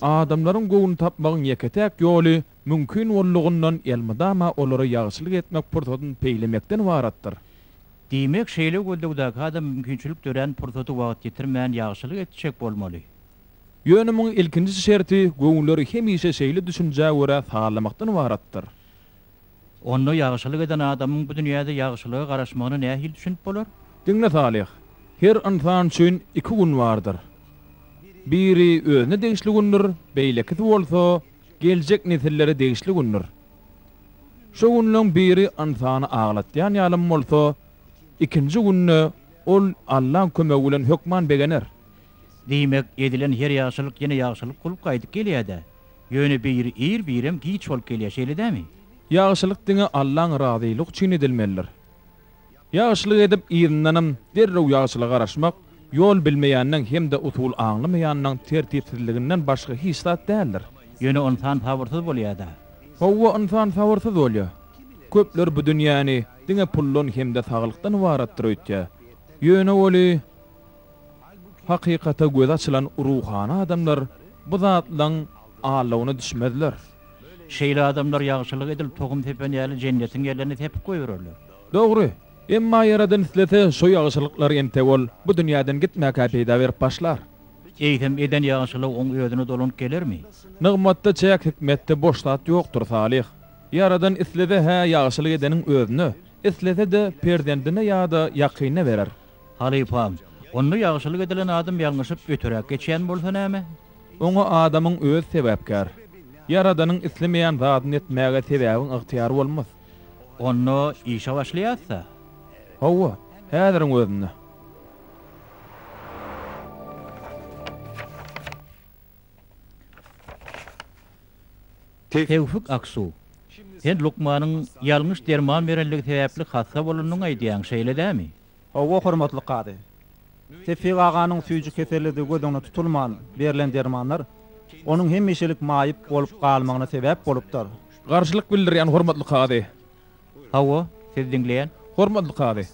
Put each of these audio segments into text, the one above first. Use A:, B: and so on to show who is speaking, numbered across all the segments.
A: Adamlaryň göwnüni tapmagyň ýeke-täk ýoly, mümkin boldugyndan elmydama olara ýagşylyk etmek pursatyny peýlemekden ybaratdyr. Diýmek, şeýle göldogdaky adam mümkinçilik dörän pursaty wagt ýitirmän ýagşylyk etjek bolmaly. Ýöne muň ilkinji şerti göwünleri hemişe şeýle düşünjä görä sazlamakdan ybaratdyr. Onda ýagşylyk eden adamyň bu dünýäde ýagşylyga garaşmagyna nähili düşünip bolar? Diňle Salyh, her ynsan üçin iki gün bardyr. Biri özüne degişli gündür, beýlekisi bolsa geljek nesillere degişli gündür. Şo günleň biri ynsany aglatýan ýalym bolsa, ikinji günde ol Allaň kömegi bilen hökman begener. Diýmek, edilen her ýagşylyk ýene ýagşylyk bolup gaýdyp gelýär-dä. Ýöne biri ir, birem giç bolup gelýär, şeýle dämi? Ýagşylyk diňe Allaň razylygy üçin edilmelidir. Ýagşylyk edip yzyndanam derrew ýagşylyga garaşmak, ýol bilmeýänleň hem-de usul aňlamaýanlaň tertipsizliginden başga hiç zat däldir. Ýöne ynsan sabyrsyz bolýar-da. Hawa, ynsan sabyrsyz bolýar. Köpler bu dünýäni diňe puldan hem-de saglykdan ybaratdyr öýtýär. Ýöne oly. Hakykata gözi açylan ruhany adamlar bu zatlaryň aldawyna düşmezler. Şeýle adamlar ýagşylyk edilip tohum sepen ýaly Jennetiň ýerlerini sepip goýbererler. Dogry. Emma Ýaradan islese, şo ýagşylyklary entek ol bu dünýäden gitmäkä peýda berip başlar. Eýsem, eden ýagşylygy oň özüne dolanyp gelermi? Nygmatda çäk, hikmetde boş zat ýokdur, Salyh. Ýaradan islese-hä ýagşylyk edeniň özüne, islese-de perzendine ýa-da ýakynyna berer. Halypam, onda ýagşylyk edilen adam ýalňyşyp öteräk geçýän bolsa näme? Oňa adamyň özi sebäpkär. Ýaradanyň islemeýän zadyny etmäge sebäbiň ygtyýar bolmaz. Onda işe başlaýas-da? Hawa, häziriň özünde. Tewfik Aksu, sen lukmanyň ýalňyş derman berenligi sebäpli hassa bolanyny aýdýaň, şeýle dämi? Hawa, hormatly kazy. Tewfik aganyň süýji kesellidigi göz öňüne tutulman berlen dermanlar onuň hemişelik maýyp bolup galmagyna sebäp bolupdyr. Garşylyk bildirýän hormatly kazy, Hawa, sizi diňleýän. Hormatly kazy!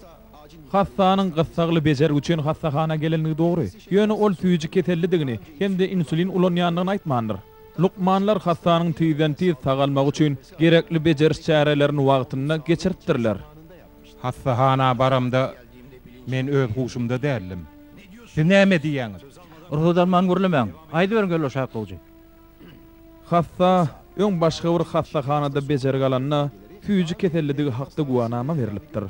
A: Hassanyň gyssagly bejergi üçin hassahana gelenligi dogry, ýöne ol süýji kesellidigini hem-de insulin ulanýandygyny aýtmandyr. Lukmanlar hassanyň tizden-tiz sagalmagy üçin gerekli bejeriş çärelerini wagtynda geçiripdirler. Hassahana baramda men öz huşumda däldim. Siz näme diýýäňiz? Rugsat alman gürlemäň. Aýdyberiň, Geldoş Akgowjy. Hassa, öň başga bir hassahanada bejergi alanda, süýji kesellidigi hakda güwanama berlipdir.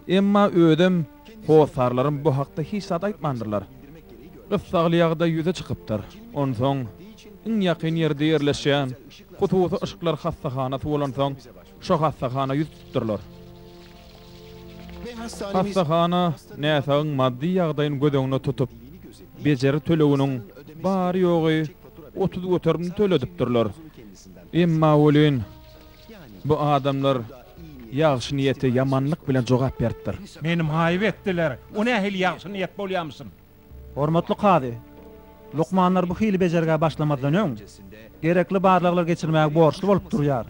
A: Emma özem, hossarlarym bu hakda hiç zat aýtmandyrlar. Gyssagly ýagdaý ýüze çykypdyr. Onsoň, iň ýakyn ýerde ýerleşýän hususy yşklar hassahanasy bolansoň, Şo hassahana ýüz tutupdyrlar. Hassahana näsagyň maddy ýagdaýyny göz öňüne tutup, bejeri töleginiň bary-ýogy otuz göterimini töledipdirler. Emma welin, bu adamlar ýagşy niýete ýamanlyk bilen jogap beripdir. Meni maýyp etdiler. O nähili ýagşy niýet bolýamyşyn? Hormatly kazy! Lukmanlar bu hili bejergä başlamazdan öň, gerekli barlaglar geçirmäge borçly bolup durýar.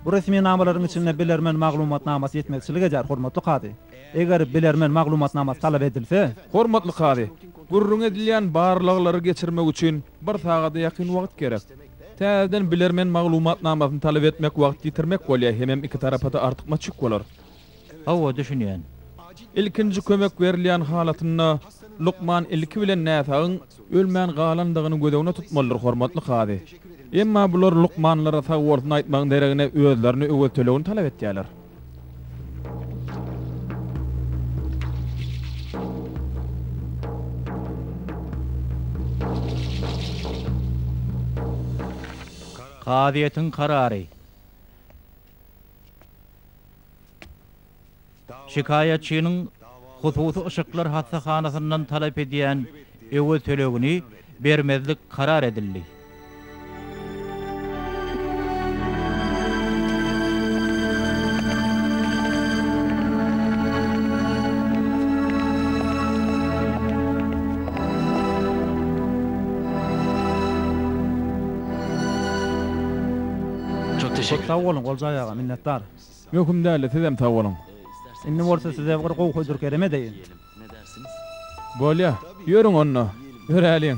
A: Bu resminamalaryň içinde bilermen maglumatnamasy ýetmezçilik edýär, hormatly kazy. Eger bilermen maglumatnamasy talap edilse, Hormatly kazy! Gürrüňi edilýän barlaglary geçirmek üçin bir sagada ýakyn wagt gerek. Täzeden bilermen maglumatnamasyny talap etmek wagt ýitirmek bolýar hemem iki tarapa-da artykmaç ýük bolar. Hawa, düşünýän. Ilkinji kömek berilýän halatynda lukman ilki bilen näsagyň ölmän galandygyny göz öňüne tutmalydyr, hormatly kazy. Emma bular lukmanlara sag bolsun aýtmagyň deregine özlerine öwez tölegini talap etýärler. Kazyýetiň karary. Şikaýatçynyň hususy yşyklar hassahanasyndan talap edýän öwez tölegini bermezlik karar edildi. Çok teşekkür Köp sag boluň Oljaý aga minnetdar. Möhüm däldi sizem sag boluň. Indi bolsa size bir gowy hödür kerem edeýin. Bolýa, ýörüň onda, ýöräliň.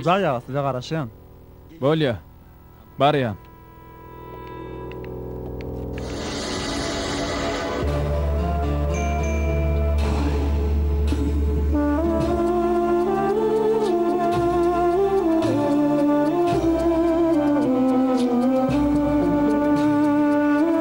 A: Oljaý aga, size garaşýan. Bolýa. Barýan.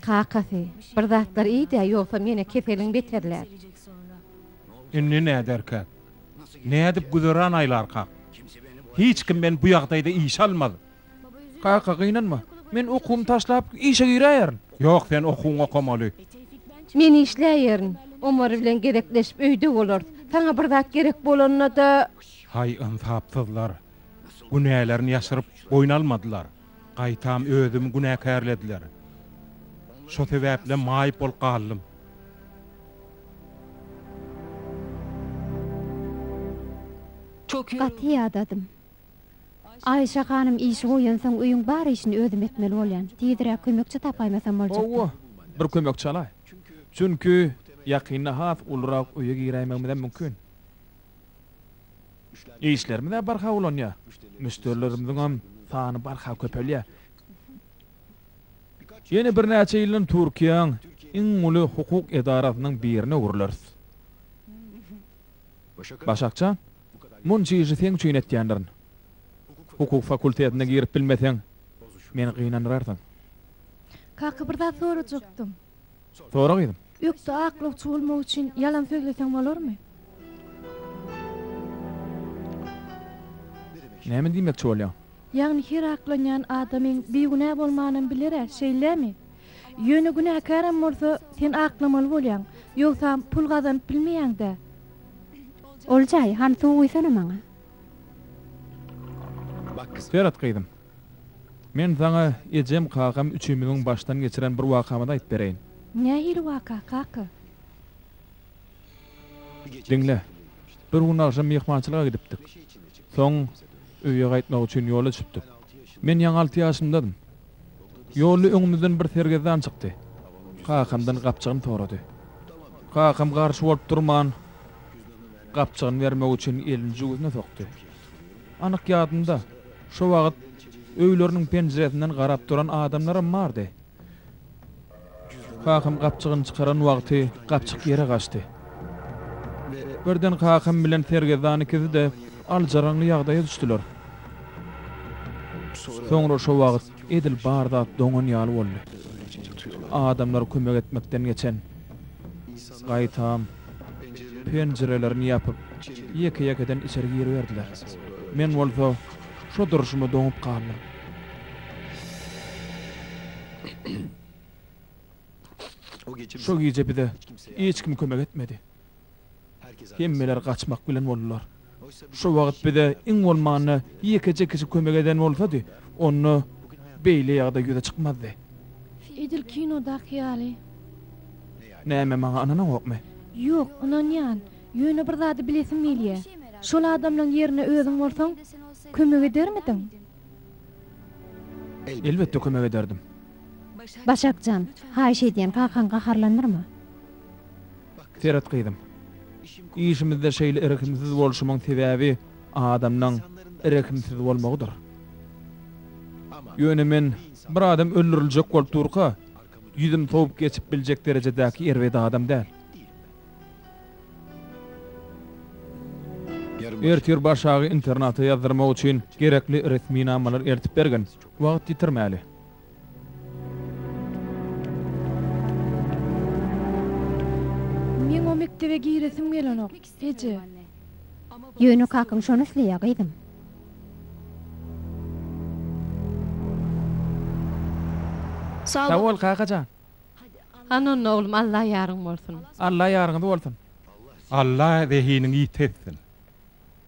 A: Kakasy, bir zatlar iý-dä, ýogsam ýene keseliň beterlär. Indi näderkäk? Nädip güzeran aýlarkak? Hiç kim meni bu ýagdaýda işe almaz. Kaka, gynanma. Men okuwymy taşlap, işe giräýerin. Ýok, sen okuwyňy okamaly. Men işläýerin. Omar bilen gezekleşip öýde bolarys. Saňa bir zat gerek bolanda-da. Haý ynsapsyzlar! Günälerini ýaşyryp boýun almadylar, gaýtam özümi günäkärlediler. Şo sebäplem maýyp bolup galdym. Gaty ýadadym. Aýşa hanym işi goýansoň öýüň bar işini özüm etmeli bolýan. Tizräk kömekçi tapaýmasam boljakdy. Hawa, bir kömekçi alaý. Çünki ýakynda has ulurak öýe giräýmegimizem mümkin. Işlerimiz-ä barha ulanýar. Müşderilerimiziňem sany barha köpelýär. Ýene birnäçe ýyldan Türkiýäň iň uly hukuk edarasynyň birine öwrüleris. Başak jan, munça işi seň üçin etýändirin. Hukuk fakultetine girip bilmeseň, meni gynandyrarsyň. Kaka bir zat sorajakdym. Sora gyzym. Ökde aklawçy bolmak üçin ýalan sözleseň bolarmy? Näme diýmekçi bolýaň? Ýagny her aklanýan adamyň bigünä bolmanam biler-ä, şeýlemi? Ýöne günäkäräm bolsa, sen aklamaly bolýaň, ýogsam pul gazanyp bilmeýäň-dä. Oljaý, hany suw guýsana maňa. Berat gyzym, Men saňa ejem, kakam üçümiziň başdan geçiren bir wakamyzy aýyp bereýin. Nähili waka, kaka? Diňle. Bir gün agşam myhmançylyga gidipdik. Soň öýe gaýtmak üçin ýola düşüpdik. Men ýaňy alty ýaşymdadym. Ýolda öňümizden bir sergezdan çykdy. Kakamdan gapjygyny sorady. Kakam garşy bolup durman, gapjygyny bermek üçin elini jübüsine sokdy. Anyk ýadymda, şo wagt öýleriniň penjiresinden garap duran adamlaram bardy. Kakam gapjygyny çykaran wagty gapjyk ýere gaçdy. Birden kakam bilen sergezdan ikisi-de aljyraňly ýagdaýa düşdüler. Soňra şo wagt edil bar zat doňan ýaly boldy. Adamlar kömek etmekden geçen. Gaýtam, penjirelerini ýapyp, ýeke-ýekeden içeri giriberdiler. Men bolsa şo durşuma doňup galdym. Şo gije bize hiç kim kömek etmedi. Hemmeler gaçmak bilen boldular. Şu wagt bize iň bolmanda ýekeje kişi kömek eden bolsady, onda beýle ýagdaý ýüze çykmazdy. Edil kinodaky ýaly. Näme, maňa ynanaňokmy? Ýok, ynanýan. Ýöne bir zady bilesim gelýä. Şol adamlaň ýerinde özüň bolsaň, kömek edermidiň? Elbetde kömek ederdim. Başak jan, haýyş edýän, kakaň gaharlanyrmy? Seret gyzym. Işimizde şeýle irgimsiz bolşumyň sebäbi adamlaň irgimsiz bolmagydyr. Ýöne men bir adam öldüriljek bolup durka ýüzüm sowup geçip biljek derejedäki erbet adam däl. Ertir Başagy internata ýazdyrmak üçin gerekli resminamalar eltip bergin. Wagt ýitirmäli. Meň o mekdebe giresim gelenok, eje. Ýöne kakaň şony isleýär, gyzym. Sag bol, kaka jan. Hany onda, oglum, Alla ýaryň bolsun. Alla ýaryňyz bolsun. Alla zehiniňi ýiti etsin.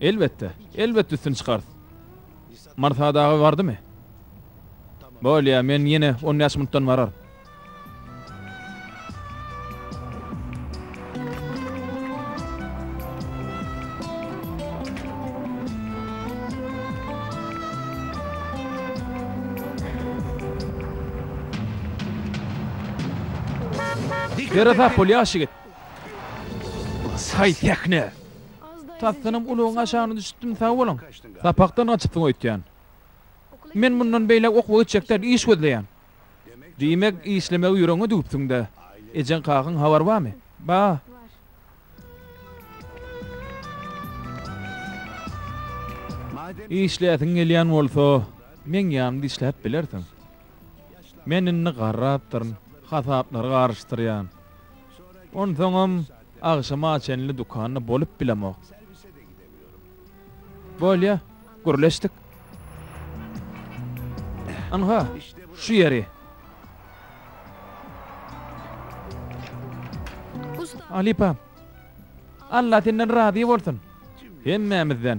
A: Elbetde, elbetde üstüni çykarys. Marsa dagy bardymy? Bolýa, men ýene on bäş minutdan bararyn. Ýere sap bol, ýaşygyt. Haý, sähne! Tasdanam ulagyň aşagyna düşüpdim sag boluň. Sapakdan gaçypsyň öýtýän. Men mundan beýläk okuwa geçjek däl, iş gözleýän. Diýmek, işlemegi ýüregiňe düwüpsiň-dä. Ejeň-kakaň habary barmy? Bar. Işläsiň gelýän bolsa, meň ýanymda işläp bilersiň. Men indi garrapdyryn, hasaplary garyşdyrýan. Onsoňam agşama çenli dükanda bolup bilemok. Bolýa, gürleşdik. Ynha, şu ýeri. Halypa, Alla senden razy bolsun. Hemmämizden.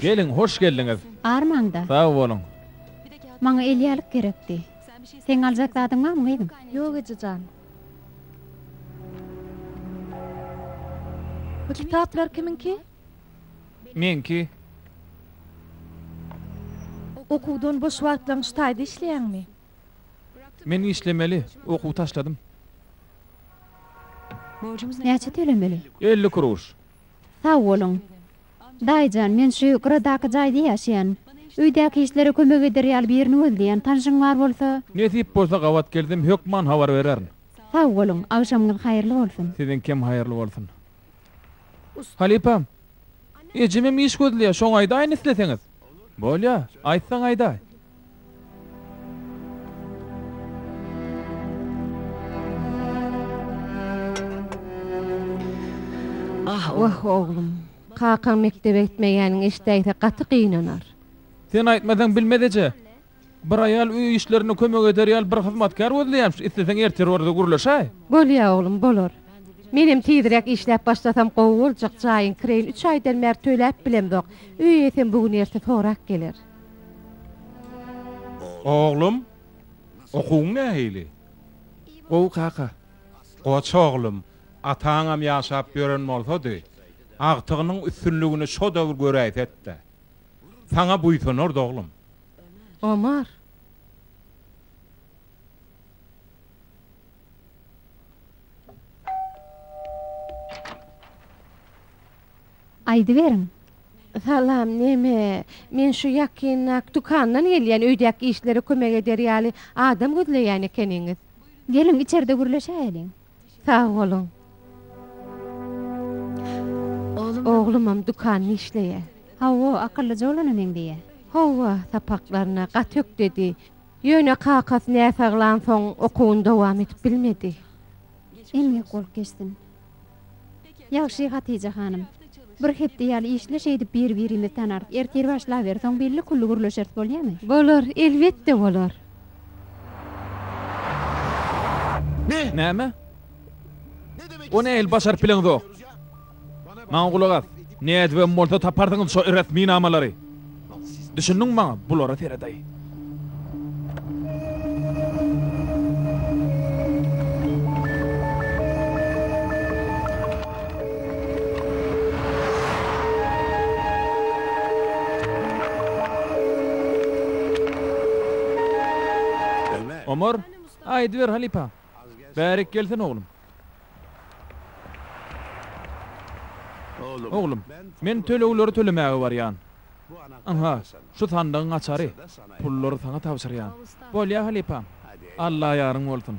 A: Geliň, hoş geldiňiz! Ar maňda. Sag boluň. Maňa elýalyk gerekdi. Seň aljak zadyň barmy, gyzym? Ýok, eje jan. Bu kitaplar kimiňki? Meňki. Okuwdan boş wagtlaň şu taýda işleýäňmi? Men işlemeli, okuw taşladym. Borjumyz näçe tölemeli? Elli kruş. Sag boluň. Daýyjan, men şu gyradaky jaýda ýaşaýan. Öýdäki işlere kömek eder ýaly birini gözleýän. Tanşyň bar bolsa. Nesip bolsa gabat gelsem hökman habar bererin. Sag boluň, agşamyňyz haýyrly bolsun. Siziňkem haýyrly bolsun. Halypam. Ejemem iş gözleýär, şoňa aýdaýyn isleseňiz. Bolýar, aýtsaň aýdaý. Wah, oglum. Kakaň mekdebe gitmeýäniňi eşidäýse gaty gynanar. Sen aýtmasaň bilmez eje. Bir aýal öý işlerinde kömek eder ýaly bir hyzmatkär gözleýärmiş. Isleseň ertir orada gürleşäý. Bolýa oglum, bolar. Menem tizräk işläp başlasam gowy boljak, jaýyň kireýini üç aýdan bäri töläp bilemzok. Öý eýesem bu gün-ertir sorap geler. Oglum, okuwyň nähili? Gowy kaka. Goç oglum, ataňam ýaşap ýören bolsady, agtygynyň üstünligini şo döwür göräýse-de. Saňa buýsanardy, oglum. Omar! Aýdyberiň. Salam, neme, men şu ýakyndak dükandan gelýän, öýdäki işlere kömek eder ýaly adam gözleýän ekeniňiz. Geliň, içerde gürleşäýeliň. Sag boluň. Oglumam dükanda işleýä. Hawa, akyllyja bolana meňzeýä. Hawa, sapaklaryna gaty ökdedi. Ýöne kakasy näsaglansoň okuwyny dowam edip bilmedi. Emgek bolup geçsin. Ýagşy Hatija hanym. Bir hepde ýaly işle şeýdip biri birimizi tanarys. Ertir başlaber soň belli külli gürleşeris bolýamy? Bolar elbetde bolar. Näme? O nähili başaryp bileňzok? Maňa gulak as. Nädibem bolsa taparsyňyz şo resminamalary. Düşündiň maňa, bulara seredaý. Omar, aýdyber halypa, Bärik gelsin oglum. Oglum, men tölegleri tölemäge barýan. Ynha, şu sandygyň açary. Pullary saňa tabşyrýan. Bolýa halypam. Alla ýaryň bolsun.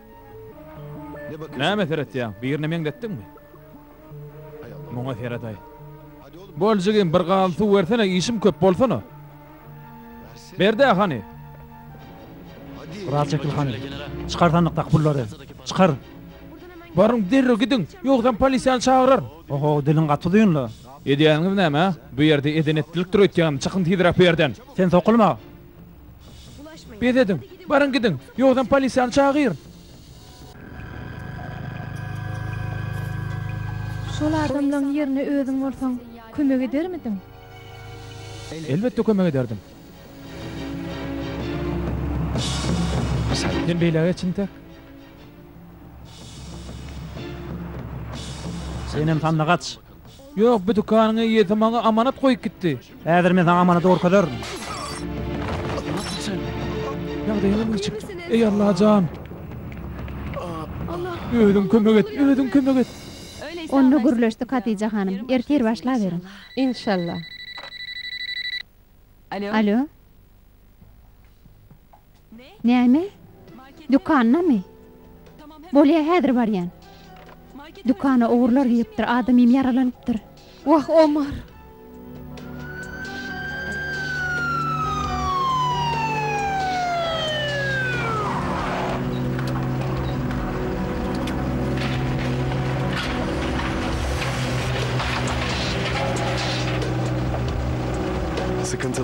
A: Näme seretýäň, birine meňzetdiňmi? Muňa seredaý. Bol jigim, bir gazan suw bersene, işim köp, bolsana. Ber-dä, hany. Biraz çekil, hany. Çykar sandykdaky pullary. Çykar. Baryň, derrew gidiň, ýogsam polisiýany çagyraryn. Oho, diliň gaty uzyn-la. Edýäniňiz näme, hä? Bu ýerde eden-etdilikdir öýtýäňmi, çykyň tizräk bu ýerden. Sen sokulma. Bes ediň! Baryň gidiň! Ýogsam polisiýany çagyryn! Şol adamlaň ýerine özüň bolsaň, kömek edermidiň? Elbetde kömek ederdim. Men beýle geç intek. Senem sandyga aç. Ýok, bu dükanyň eýesi maňa amanat goýup gitdi. Häzir men saňa amanady görkezerin. Ýagdaýyňyz niçik? Eý Allajan! Özüň kömek et, özüň kömek et! Onda gürleşdik Hatija hanym. Ertir başlaberiň. Inşallah. Alo? Näme? Dükandamy? Bolýa, häzir barýan. Dükana ogurlar giripdir, adamym ýaralanypdyr. Wah, Omar!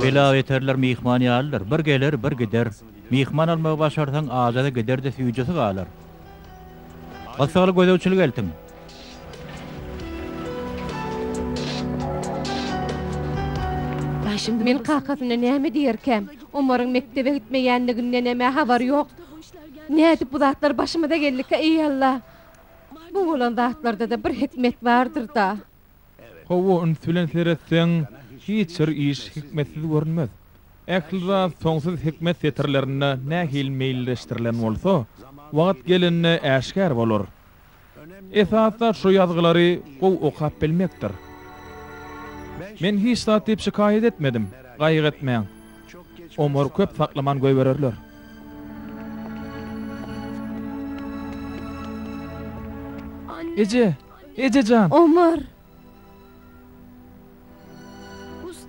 A: Belabeterler myhman ýalydyr, bir geler, bir gider. Myhman almagy başarsaň, aja-da gider-de süýjesi galar. Gyssagly gözegçilik eltiň. Men kakasyna näme diýerkäm? Omaryň mekdebe gitmeýändigindenem-ä habary ýok. Nädip bu zatlar başymyza geldikä, eý Alla? Bu bolan zatlarda-da bir hikmet bardyr-da. Hawa, üns bilen seretseň, hiç bir iş hikmetsiz görünmez. Ähli zat soňsuz hikmet setirlerinde nähili meýilleşdirilen bolsa, wagt gelende äşgär bolar. Esasy zat şu ýazgylary gowy okap bilmekdir. Men hiç zat diýip şikaýat etmedim, gaýgy etmäň. Omar köp saklaman goýbererler. Eje! Eje jan! Omar!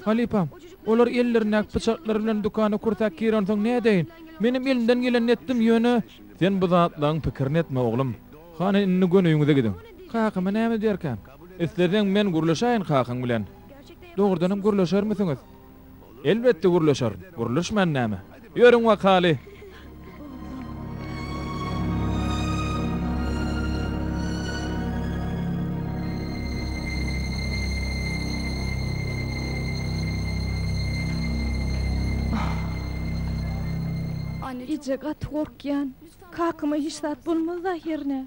A: Halypam, olar ellerindäki pyçaklary bilen dükana kürsäp girensoň nädeýin? Menem elimden gelenini etdim, ýöne. Sen bu zatlaryň pikirini etme, oglum. Hany, indi göni öýüňize gidiň. Kakama näme diýerkäm? Isleseň, men gürleşäýin kakaň bilen. Dogrudanam gürleşermisiňiz? Elbetde gürleşerin. Gürleşmän näme? Ýörüň wakaly! Eje, gaty gorkýan. Kakama hiç zat bolmaz-da ahyryn-ä?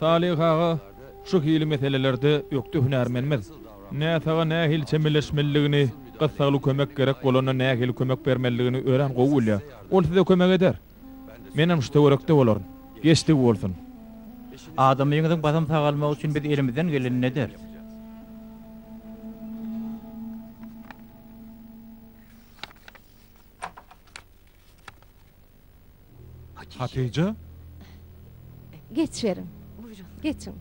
A: Salyh aga, şu hili meselelerde ökde hünärmenmiz. Näsaga nähili çemeleşmelidigini, gyssagly kömek gerek bolanda nähili kömek bermelidigini örän gowy bilýär. Ol size kömek eder. Menem şu töwerekde bolaryn. Geçdigi bolsun. Adamyňyzyň basym sagalmagy üçin biz elimizden gelenini ederis. Hatyja. Geçiberin. Geçiň.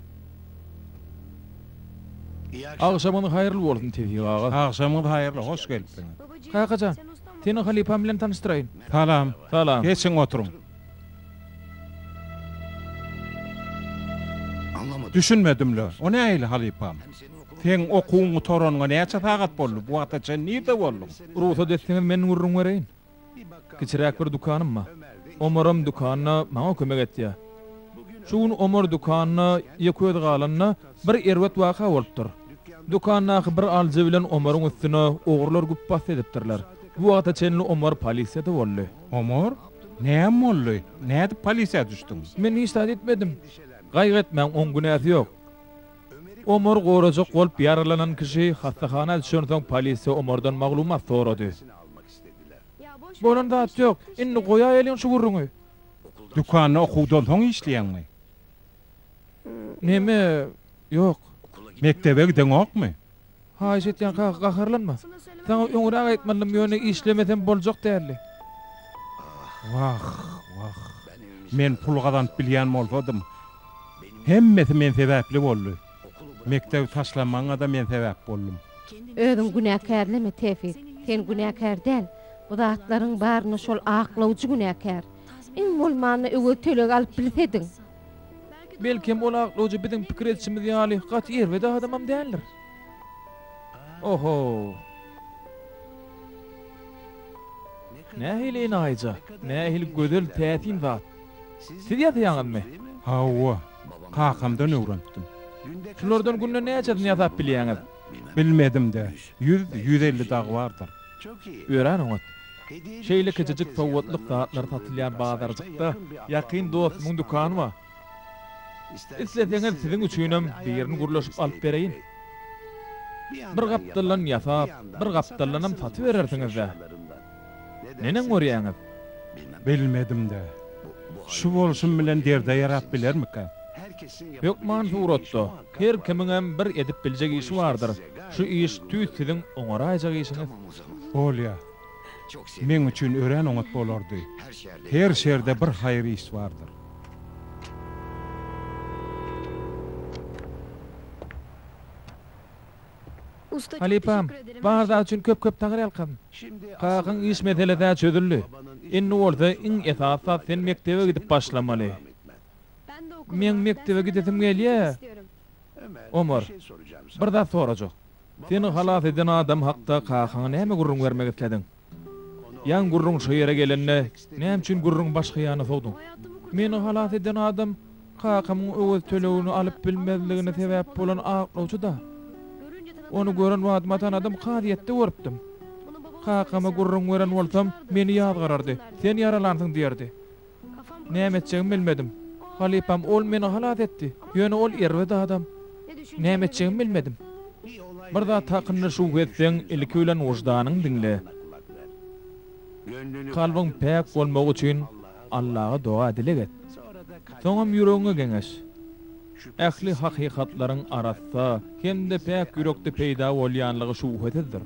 A: Agşamyňyz haýyrly bolsun, Tewfik aga. Agşamyňyz haýyrly, hoş gelipsiňiz. Kaka jan, seni halypam bilen tanyşdyraýyn. Salam. Salam. Geçiň, oturyň. Düşünmedim-le, o nähili halypam? Seň okuwyň gutaranyňa näçe sagat boldy? Bu wagta çenli nirde bolduň? Rugsat etseňiz, men gürrüň bereýin. Kiçiräk bir dükanym bar. Omaram dükanda maňa kömek etýär. Şu gün Omar dükanda ýekeözi galanda, bir erbet waka bolupdyr. Dükandaky bir alyjy bilen Omaryň üstüne ogrlar güpbasdy edipdirler. Bu wagta çenli Omar polisiýada boldy. Omar, näme boldy? Nädip polisiýa düşdüň? Men hiç zat etmedim. Gaýgy etmäň, oň günäsi ýok. Omar gorajak bolup ýaralanan kişi hassahana düşensoň polisiýa Omardan maglumat sorady. Bolan zat ýok. Indi goýaýeliň şu gürrüňi. Dükanda okuwdan soň işleýäňmi? Neme? Ýok. Mekdebe gideňokmy? Haýyş etýän kaka, gaharlanma. Saňa öňräk aýtmalydym, ýöne işlemesem boljak däldi. Wah, wah. Men pul gazanyp bilýän bolsadym, hemmesi men sebäpli boldy. Mekdebi taşlamaňada men sebäp boldum. Özüň günäkärleme Tefik. Sen günäkär däl. Bu zatlaryň baryna şol aklawjy günäkär. Iň bolmanda öwez töleg alyp bilsediň. Belkem ol aklawjy biziň pikir edişimiz ýaly gaty erbet adamam däldir. Ohow. Nähili enaýyja, nähili gözel täsin zat. Siz ýasaýaňyzmy? Hawa. Kakamdan öwrenipdim. Şulardan günde näçesini ýasap bilýäňiz? Bilmedim-de. Ýüz, ýüz elli dagy bardyr. Örän oňat. Şeýle kiçijik sowgatlyk zatlar satylýan bazarjykda ýakyn dostumyň dükany bar. Isleseňiz, siziň üçinem birini gürleşip alyp bereýin. Bir gapdaldan ýasap, bir gapdaldanam satyberersiňiz-dä. Neneň görýäňiz? Bilmedim-de. Şu bolşum bilen derde ýarap bilermika? Hökman suratda. Her kimiňem bir edip biljek işi bardyr. Şu iş tüýs siziň oňaraýjak işiňiz. Bolýa. Meň üçin örän oňat bolardy. Her şerde bir haýyr iş bardyr. Halypam, bar zat üçin köp köp taňryýalkasyn. Kakaň iş meselesä çözüldi. Indi bolsa iň esasy zat sen mekdebe gidip başlamaly. Meň mekdebe gidesim gelýä. Omar, bir zat sorajak. Seni halas eden adam hakda kakaňa näme gürrüň bermek islediň? Ýan gürrüň şu ýere gelende, näme üçin gürrüňi başga ýana sowduň? Meni halas eden adam kakamyň öwez tölegini alyp bilmezligine sebäp bolan aklawçy-da. Ony gören badyma tanadym, kazyýetde görüpdim. Kakama gürrüň beren bolsam, meni ýazgarardy, sen ýaralansyň diýerdi. Näme etjegimi bilmedim. Halypam, Ol meni halas etdi. Ýöne ol erbet adam. Näme etjegimi bilmedim. Bir zat hakynda şübhe etseň, ilki bilen wyždanyňy diňle. Kalbyň päk bolmagy üçin Allaha doga-dileg et. Soňam ýüregiňe geňeş. Ähli hakykatlaryň arassa hem-de päk ýürekde peýda bolýanlygy şübhesizdir.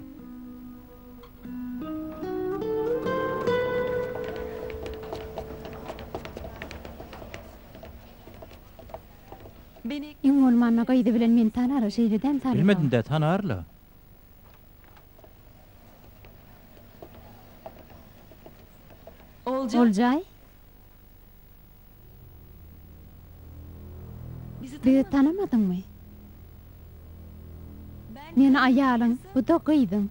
A: Iň bolmanda gyzy bilen meni tanara şeýle däm salýar. Bilmedimdä tanarla. Oljaý. Bizi tanamadyňmy? Men aýalyň, bu-da gyzyň.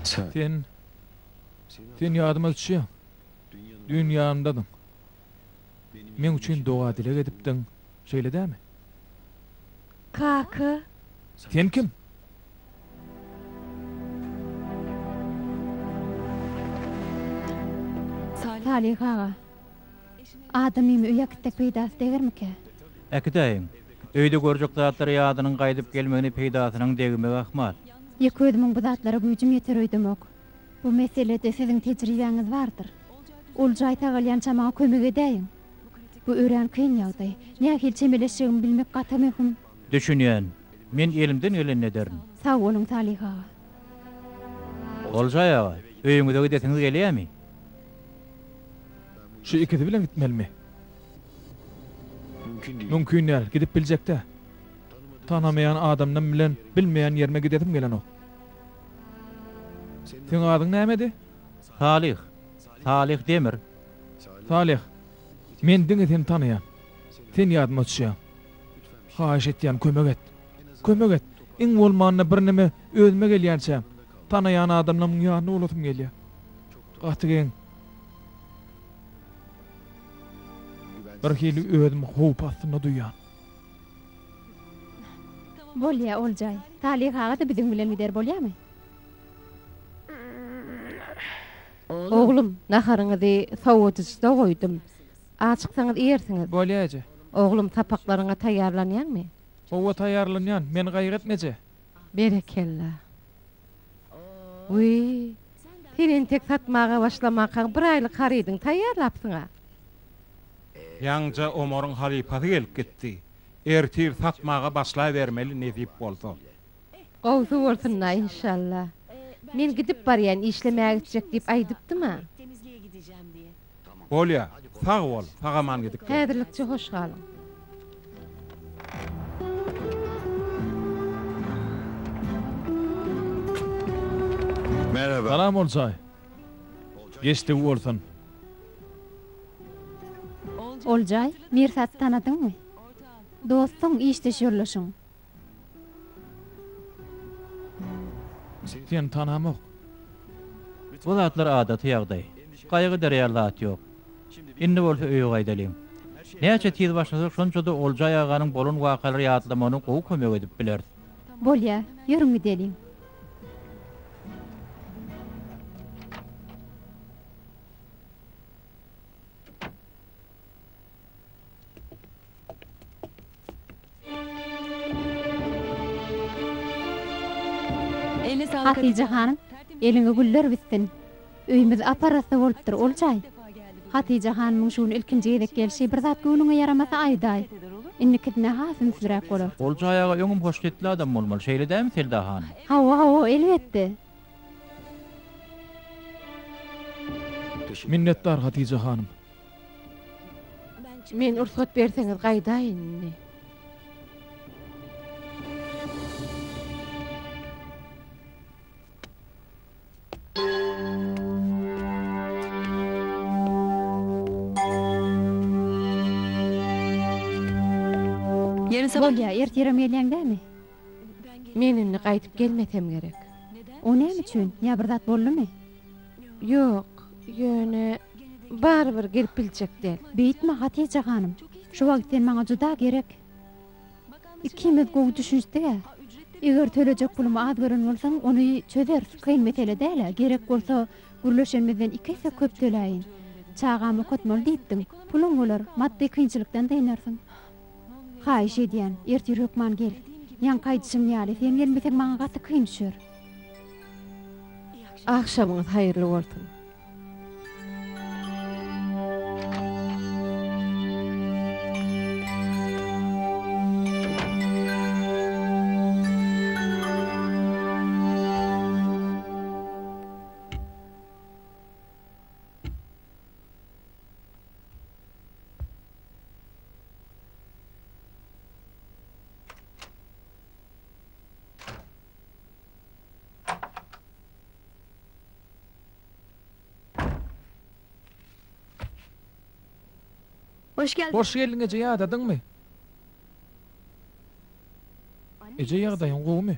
A: Sen, sen ýadyma düşýäň. Düýn ýanymdadyň. Meň üçin doga-dileg edipdiň. Şeýle dämi? Kaka. Sen kim? Salyh aga. Adamymy öýe äkitsek peýdasy degermikä? Äkidäýiň. Öýde görjek zatlary ýadynyň gaýdyp gelmegini peýdasynyň degmegi ahmal. Ýeke özümiň bu zatlara güýjüm ýeter öýdemok. Bu meselede siziň tejribäňiz bardyr. Oljaý sagalýança maňa kömek edäýiň. Bu örän kyn ýagdaý. Nähili çemeleşjegimi bilmek gaty möhüm. Düşünýän. Men elimden gelenini ederin. Sag boluň Salyh aga. Oljaý aga, öýüňize gidesiňiz gelýämi? Şu ikisi bilen gitmelimi? Mümkin däl, gidip biljek-dä. Tanamaýan adamym bilen bilmeýän ýerime gidesim gelenok. Seň adyň nämedi? Salyh. Salyh Demir. Salih, men diňe seni tanaýan. Sen ýadyma düşýäň. Haýyş etýän, kömek et. Kömek et. Iň bolmanda birneme özüme gelýänçäm, tanaýan adamlaryň ýanyna bolasym gelýär. Gaty geň. Bir hili özümi howp astynda duýýan. Bolýa, Oljaý. Salih aga-da biziň bilen gider, bolýamy? Oglum, naharyňyzy sowadyjyda goýdum. Açyksaňyz iýersiňiz. Bolýar, eje. Oglum, sapaklaryňa taýýarlanýaňmy? Hawa, taýýarlanýan. Men gaýratmy, eje? Berekella. Wiý, sen entek satmaga başlamankaň bir aýlyk harydyňy taýýarlapsyň-a. Ýaňyja Omaryň halypasy gelip gitdi. Ertir satmaga başlabermeli nesip bolsa. Gowsy bolsun-la, inşalla. Men gidip barýan, işlemäge gitjek diýip aýdypdym-a. Bolýa, sag bol, sag-aman gidip gel. Häzirlikçe hoş galyň. Salam, Oljaý. Geçdigi bolsun. Oljaý, Mirsaty tanadyňmy? Dostuň, işdeş ýoldaşyň. Seni tanamok. Bu zatlar adaty ýagdaý. Gaýgy ederýär zat ýok. Indi bolsa öýe gaýdalyň. Näçe tiz başlasak şonça-da Oljaý aganyň bolan wakalary ýatlamagyna gowy kömek edip bileris. Bolýa, ýörüň gideliň. Hatyja hanym, eliňe güller bitsin. Öýümiz ap-arassa bolupdyr, ol jaý. Hatyja hanymyň şu gün ilkinji gezek gelşi bir zat göwnüňe ýaramasa aýdaý. Indikisine has ünsliräk bolar. Ol jaý aga öňem hoşgetli adam bolmaly, şeýle dälmi Selda hanym? Hawa, hawa, elbetde. Minnetdar Hatyja hanym. Men ursat berseňiz gaýdaýyn indi. Bolýa, ertirem gelýäň dämi? Men indi gaýdyp gelmesem gerek. O näme üçin? Ýa bir zat boldumy? Ýok, ýöne barybir gelip biljek däl. Beýtme, Hatije hanym. Şu wagt sen maňa juda gerek. Ikimiz gowy düşünişdik-ä. Eger tölejek pulumy az gören bolsaň, ony çözeris, kyn mesele däl-ä. Gerek bolsa, gürleşenimizden iki esse köp töläýin. Çagamy okatmaly diýipdiň. Puluň bolar, maddy kynçylykdan dynarsyň. Haýyş edýän, ertir hökman gel. Ýaňky aýdyşym ýaly, sen gelmeseň maňa gaty kyn düşer. Agşamyňyz haýyrly bolsun. Hoş geldin. Hoş geldiň eje ýadadyňmy? Eje ýagdaýyň gowumy?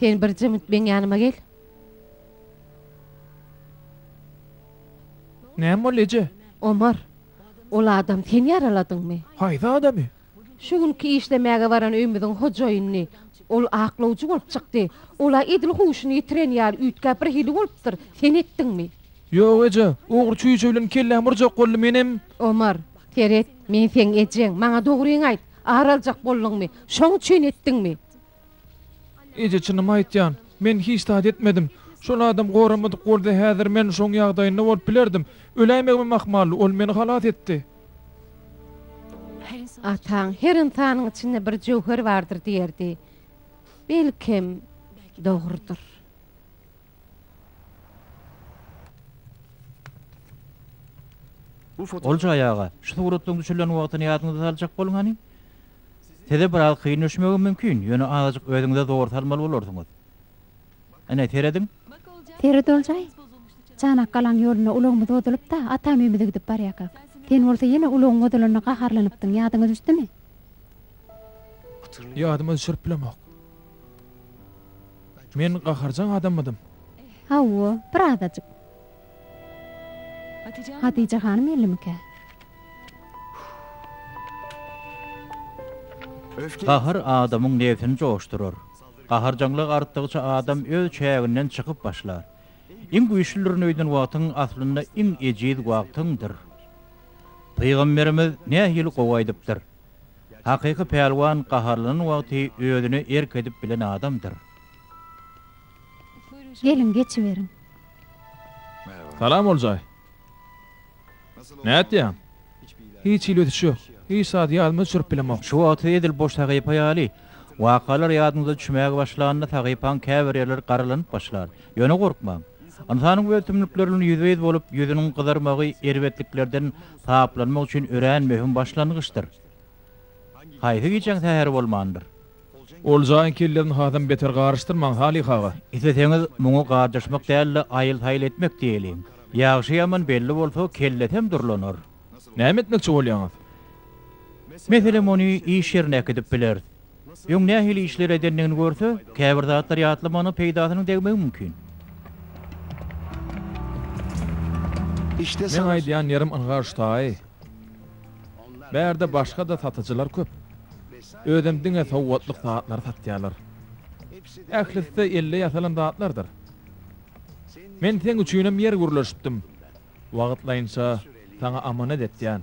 A: Sen bir jymt meň ýanyma gel. Näme boldy, eje? Omar, ol adam sen ýaraladyňmy? Haýsy adamy? Şu günki işlemäge baran öýümiziň hojaýynyny. Ol aklawjy bolup çykdy. Ol-a edil huşuny ýitiren ýaly üýtgäp birhili bolupdyr. Sen etdiňmi? Ýok, eje. Ogry çüýşe bilen kellämi urjak boldy, menem. Omar, seret. Men seň ejeň, maňa dogryňy aýt, ar aljak bolduňmy, şoň üçin etdiňmi? Eje, çynymy aýtýan, men hiç zat etmedim. Şol adam goramadyk bolsa häzir men şoň ýagdaýynda bolup bilerdim. Öläýmegimem ahmaldy, ol meni halas etdi. Ataň, her ynsanyň içinde bir jöwher bardyr diýerdi. Belkem, dogrudyr. Olja aýaga, şu suratlaryň düşürilen wagtyny ýadyňyza saljak boluň hany. Size biraz kyn düşmegi mümkin, ýöne azajyk özüňize zor salmaly bolarsyňyz. Ine, serediň. Seret Oljaý. Çanak galaň ýolunda ulagymyz bozulyp-da, atam öýümize gidip barýarkak. Sen bolsa ýene ulagyň bozulanyna gaharlanypdyň, ýadyňa düşdümi? Ýadyma düşürip bilemok. Men gaharjaň adammydym? Hawa, bir azajyk. Hatyja hanym ýerlimikä? Gahar adamyň nebsini joşdurar. Gaharjaňlyk artdygyça adam öz çäginden çykyp başlar. Iň güýçlüdirin öýden wagtyň aslynda iň ejiz wagtyňdyr. Pygamberimiz nähili gowy aýdypdyr, Hakyky pälwan gaharlanan wagty özüne erk edip bilen adamdyr. Geliň, geçiberiň. Salam, Oljaý. Nätýäň? Hiç hili ösüş ýok. Hiç zady ýadyma düşürip bilemok. Şu wagty edil boş sahypa ýaly. Wakalar ýadyňyza düşmäge başlanda sahypaň käbir ýerleri garalanyp başlar. Ýöne gorkmaň. Ynsanyň öz tümlükleri bilen ýüzbe-ýüz bolup, ýüzüniň gyzarmagy erbetliklerden taplanmak üçin örän möhüm başlangyçdyr. Haýsy gijäň säheri bolmandyr? Oljaň kellesini hasam beter garyşdyrmaň, Salyh aga. Isleseňiz, muňa garjaşmak däl-de, aýyl-saýyl etmek diýeliň. Ýagşy-ýaman belli bolsa, kellesem durlanar. Näme etmekçi bolýaňyz? Meselem, ony iş ýerine äkidip bileris. Öň nähili işler edendigini görse, käbir zatlary ýatlamana peýdasynyň degmegi mümkin. Meň aýdýan ýerim ynha şutaý. Bärde başga-da satyjylar köp. Özem diňe sowgatlyk zatlary satýarlar. Ählisi-de elde ýasalan zatlardyr. Men seň üçinem ýer gürleşipdim. Wagtlaýynça saňa amanet etýän.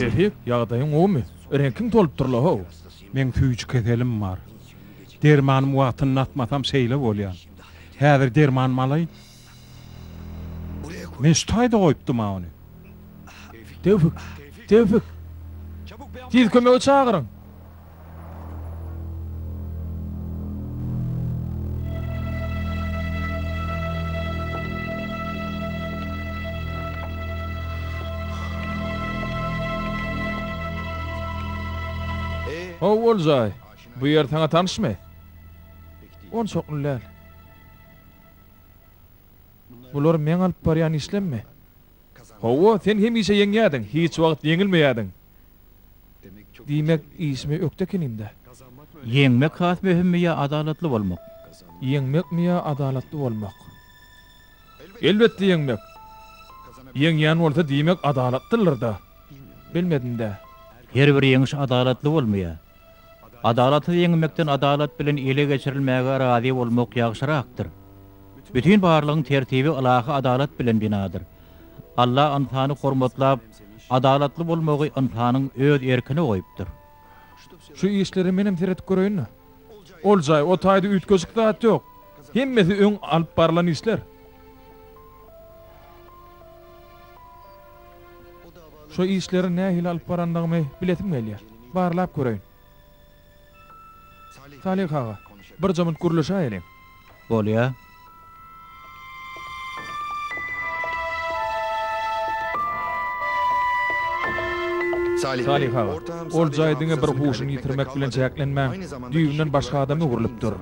A: Şefik, ýagdaýyň gowumy? Reňkiň solupdyr-la-how. Meň süýji keselim bar. Dermanymy wagtynda atmasam şeýle bolýan. Häzir dermanymy alaýyn, Men şu taýda goýupdym-a ony. Tewfik! Tewfik! Tiz kömegi çagyryň! How ol jaý? Bu ýer saňa tanyşmy? Onçakly däl. Bular meň alyp barýan işlemmi? Hawa, sen hemişe ýeňýärdiň, hiç wagt ýeňilmeýärdiň. Diýmek, işimi ökde ekenim-dä. Ýeňmek has möhümmi ýa adalatly bolmak? Ýeňmekmi ýa adalatly bolmak? Elbetde ýeňmek. Ýeňýän bolsa, diýmek, adalatlydyr-da. Bilmedim-dä. Her bir ýeňiş adalatly bolmaýar. Adalaty ýeňmekden adalat bilen ele geçirilmäge razy bolmak ýagşyrakdyr. Bütin barlygyň tertibi ylahy adalat bilen binadyr. Alla ynsany hormatlap, adalatly bolmagy ynsanyň öz erkine goýupdyr. Şu işlere menem seredip göreýin-le. Ol jaý, o taýda üýtgeşik zat ýok. Hemmesi öň alyp barylan işler. Şu işleri nähili alyp barandygymy bilesim gelýär. Barlap göreýin. Salyh aga, birje munt gürleşäýeliň. Bolýar. Salyh aga, ol jaý diňe bir huşuny ýitirmek bilen çäklenmän, düýbünden başga adama öwrülipdir.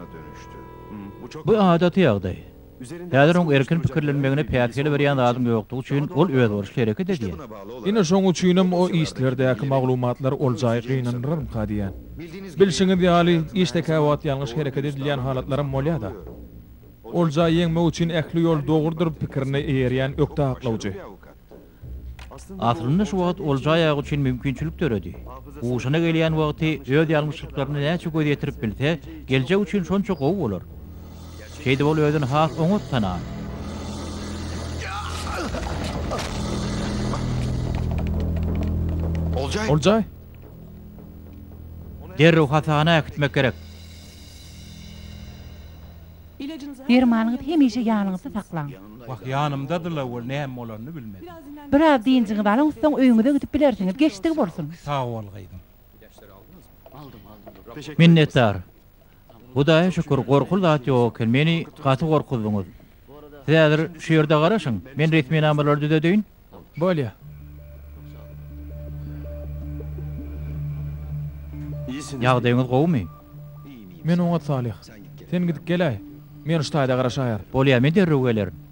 A: Bu adaty ýagdaý. Häzir oň erkin pikirlenmegine päsgel berýän zadyň ýokdugy üçin ol özboluşly hereket edýär. Ine şoň üçinem o işlerdäki maglumatlar ol jaýy gynandyrarmyka diýýän. Bilşiňiz ýaly, işde käwagt ýalňyş hereket edilýän halatlaram bolýa-da. Ol jaýy ýeňmek üçin ähli ýol dogrudyr pikirini eýerýän ökde aklawjy. Aslynda şu wagt olja aýagy üçin mümkinçilik döredi. Huşuna gelýän wagty öz ýalňyşlyklaryna näçe göz ýetirip bilse, geljek üçin şonça gowy bolar. Şeýdip ol özüni has oňat tanar. Oljaý! Derrew hasahana äkitmek gerek. Dermanyňyzy hemişe ýanyňyzda saklaň. Wah, ýanymdady-la, ol näme bolanyny bilmedim. Biraz dynjyňyzy alyň, soň öýüňize gidip bilersiňiz. Geçdigi bolsun! Sag bol, gyzym. Minnetdar. Hudaýa şükür, gorkuly zat ýok eken. Meni gaty gorkuzdyňyz. Siz häzir şu ýerde garaşyň, men resminamalary düzedýin. Bolýa. Ýagdaýyňyz gowumy? Men oňat Salyh. Sen gidip geläý. Men ştaýda garaşaýar. Bolýa, men derrew gelerin.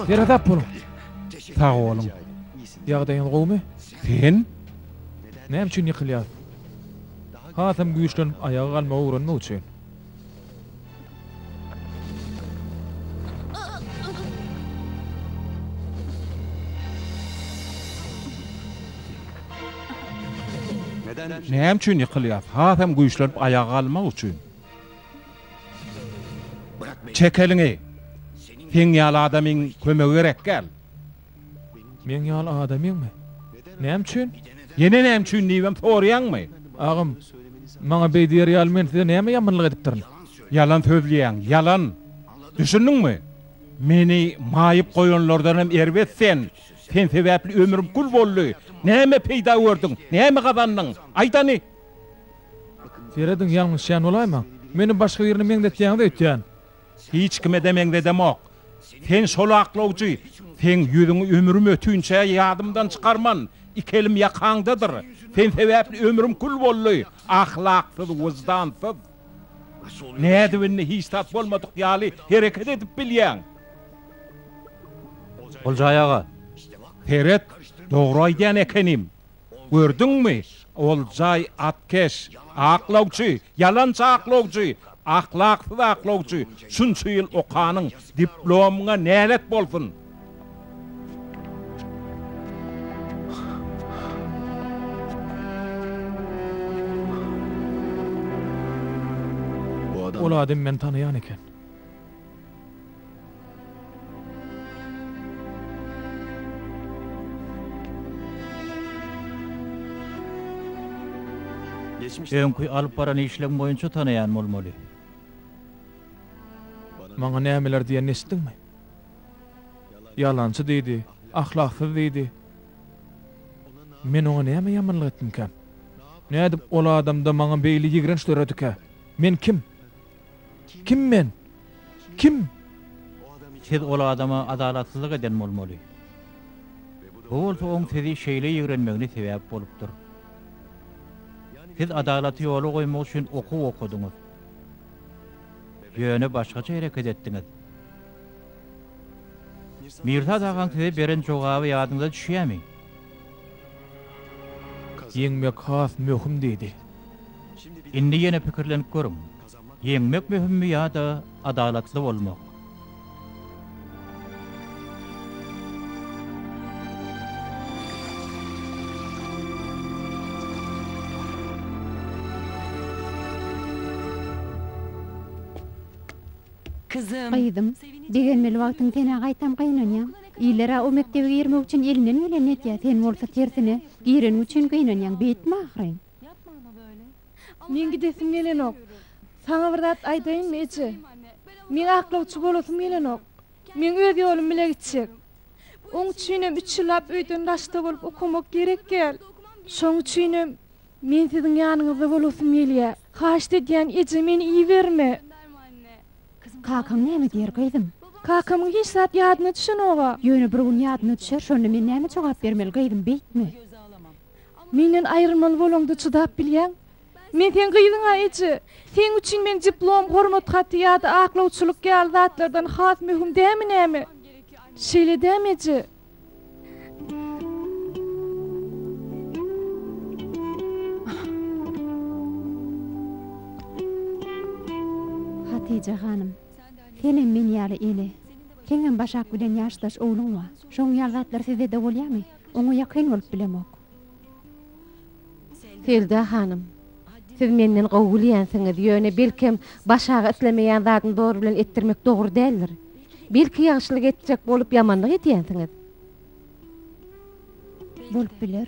A: Ýere-zap boluň. Sag boluň. Ýagdaýyňyz gowumy? Sen? Näme üçin ýykylýas? Hasam güýçlenip, aýaga galmagy öwrenmek üçin. Näme üçin ýykylýas? Has hem güýçlenip aýaga galmak üçin. Çek eliňi! Seň ýaly adamyň kömegi gerekgäl. Meň ýaly adamyňmy? Näme üçin? Ýene näme üçin diýibem soraýaňmy? Agam, maňa beý diýer ýaly men size näme ýamanlyk edipdirin? Ýalan sözleýäň, ýalan. Düşündiňmi? Meni maýyp goýanlardan hem erbet sen. Sen sebäpli ömrüm kül boldy. Näme peýda gördüň? Näme gazandyň? Aýdany! Serediň, ýalňyşýan bolaýmaň. Meni başga birine meňzetýäňiz öýtýän. Hiç kime-de meňzedemok. Sen şol aklawjy. Seň ýüzüňi ömrüm ötünçä ýadymdan çykarman. Iki elim ýakaňdadyr. Sen sebäpli ömrüm kül boldy. Ahlaksyz, wyždansyz. Nädip indi hiç zat bolmadyk ýaly hereket edip bilýäň? Oljaý aga! Seret, dogry aýdýan ekenim. Gördüňmi, ol jaý atkeş, aklawçy, ýalançy aklawjy, ahlaksyz aklawjy, şunça ýyl okanyň, diplomyňa nälet bolsun! Ol adamy men tanaýan eken. Öňki alyp baran işleň boýunça tanaýan bolmaly. Maňa nämeler diýenini eşitdiňmi? Ýalançy diýdi, ahlaksyz diýdi. Men oňa näme ýamanlyk etdimkä? Nädip ol adamda maňa beýle ýigrenç döredikä? Men kim? Kim men? Kim? Siz ol adama adalatsyzlyk eden bolmaly. Bu bolsa oň sizi şeýle ýigrenmegine sebäp bolupdyr. Siz adalaty ýola goýmak üçin okuw okadyňyz. Ýöne başgaça hereket etdiňiz. Mirsad agaň size beren jogaby ýadyňyza düşýärmi? Ýeňmek has möhüm diýdi. Indi ýene pikirlenip görüň, ýeňmek möhümmi ýa-da adalatly bolmak? Gyzym, begenmeli wagtyň senä gaýtam gynanýan. Iler-ä o mekdebe girmek üçin elinden gelenini etýä sen bolsa tersine gireniň üçin gynanýaň beýtme ahyryn. Meň gidesim gelenok. Saňa bir zat aýdaýynmy eje? Meň aklawçy bolasym gelenok. Meň öz ýolum bile gitjek. Oň üçinem üç ýyllap öýden daşda bolup okamak gerek gel. Şoň üçinem Men siziň ýanyňyzda bolasym gelýä. Haýyşt edýän, eje, meni iberme! Kakaň näme diýer, gyzym? Kakamyň hiç zat ýadyna düşenog-a. Ýöne bir gün ýadyna düşer, şonda men näme jogap bermeli, gyzym, beýtme! Menden aýrylmaly bolaňda çydap bilýäň? Men seň gyzyň-a, eje! Seň üçin men diplom, hormat haty ýa-da aklawçylyk ýaly zatlardan has möhüm dämi näme? Şeýle dämi, eje? Hatije hanym, senem men ýaly eli. Seňem Başak bilen ýaşdaş ogluň bar. Şoň ýaly zatlar sizede bolýamy? Oňa ýakyn bolup bilemok. Selda hanym, siz menden gowy gülýänsiňiz, ýöne belkem başaga islemeýän zadyny zor bilen etdirmek dogry däldir. Belki ýagşylyk etjek bolup ýamanlyk edýänsiňiz? Bolup biler.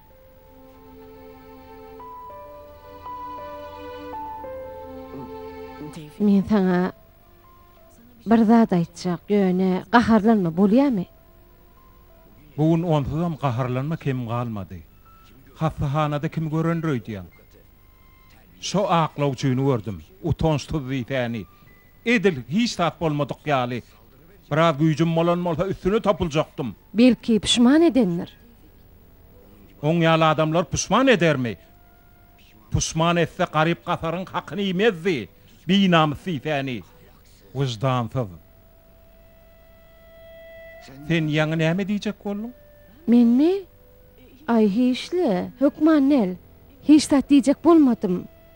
A: Men saňa bir zat aýtjak, ýöne gaharlanma, bolýamy? Bu gün onsuzam gaharlanma kem galmady. Hassahanada kimi görendir öýdýäň? Şo aklawçyny gördüm. Utanç tuzly täni. Edil hiç zat bolmadyk ýaly Biraz güýjüm bolan bolsa üstüne topuljakdym. Belki puşman edendir. Oň ýaly adamlar puşman edermi? Puşman etse garyp gasaryň hakyny iýmezdi. Binamys diýsäni. Wyždansyz. Sen ýaňy näme diýjek bolduň? Menmi? Aý hiçle, hökman däl. Hiç zat diýjek bolmadym.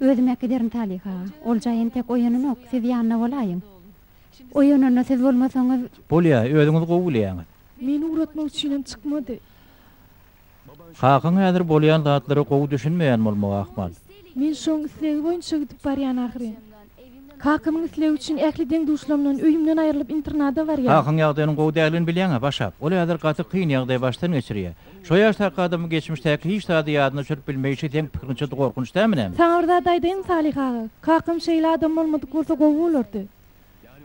A: Özüm-ä giderin Talyh aga. Ol jaý entek oýananok, siz ýanynda bolaýyň. Oýananda siz bolmasaňyz. Bolýa, özüňiz gowy bilýäňiz. Meni ugratmak üçinem çykmady. Kakaň häzir bolýan zatlara gowy düşünmeýän bolmagy ahmal. Men şoň islegi boýunça gidip barýan ahyryn. Kakamyň islegi üçin ähli deň-duşlarymdan, öýümden aýrylyp internada barýan. Kakaň ýagdaýynyň gowy däldigini bilýäň-ä, Başak. Ol häzir gaty kyn ýagdaý başdan geçirýär. Şo ýaşdaky adamyň geçmişdäki hiç zady ýadyna düşürip bilmeýşi seň pikiriňçe gorkunç dälmi näme? Saňa bir zat aýdaýyn Salyh aga, kakam şeýle adam bolmadyk bolsa gowy bolardy.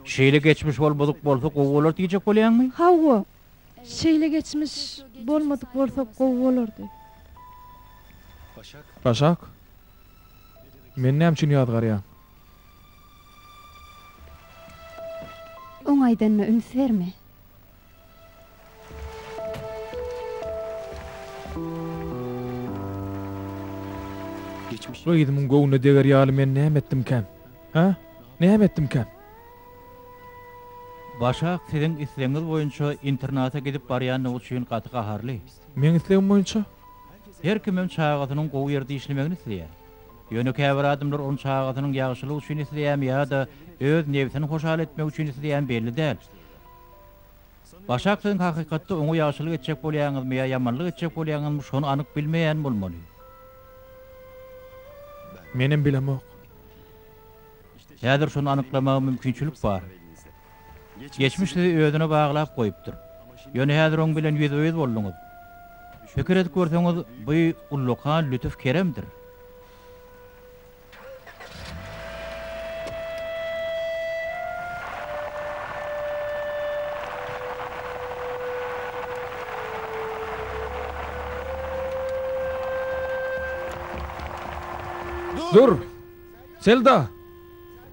A: Şeýle geçmiş bolmadyk bolsa gowy bolardy diýjek bolýaňmy? Hawa. Şeýle geçmiş bolmadyk bolsa gowy bolardy. Başak. Meni näme üçin ýazgarýaň? Oň aýdanyna üns berme. Gyzymyň göwnüne deger ýaly men näme etdimkäm? Hä? Näme etdimkäm? Başak siziň islegiňiz boýunça internata gidip barýandygy üçin gaty gaharly. Meň islegim boýunça her kimem çagasynyň gowy ýerde işlemegini isleýär. Ýöne käbir adamlar ony çagasynyň ýagşylygy üçin isleýärmi ýa-da öz nebsini hoşal etmek üçin isleýärmi belli däl. Başak siziň hakykatda oňa ýagşylyk etjek bolýaňyzmy ýa ýamanlyk etjek bolýaňyzmy şony anyk bilmeýän bolmaly. Menem bilemok. Häzir şony anyklamaga mümkinçilik bar. Geçmiş sizi özüne baglap goýupdyr. Ýöne häzir oň bilen ýüzbe-ýüz bolduňyz. Pikir edip görseňiz, bu ullakan lütüf keremdir. Dur! Selda!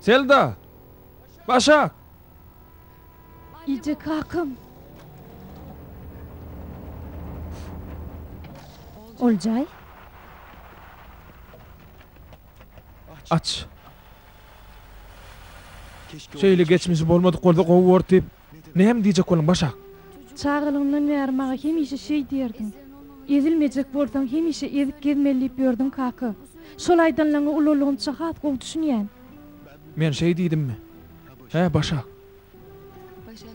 A: Selda! Başak! Ije kakam! Oljaý! Aç! Şeýle geçmişi bolmadyk bolsa gowy bordy. Näme diýjek boluň, Başak? Çagalygymdan bäri maňa hemişe şeý diýerdiň. Ezilmejek bolsaň, hemişe ezip gezmeli diýip ýördüň, kaka. Şol aýdanlaňy ulalygymça has gowy düşünýän. Men şeý diýdimmi? Hä, Başak?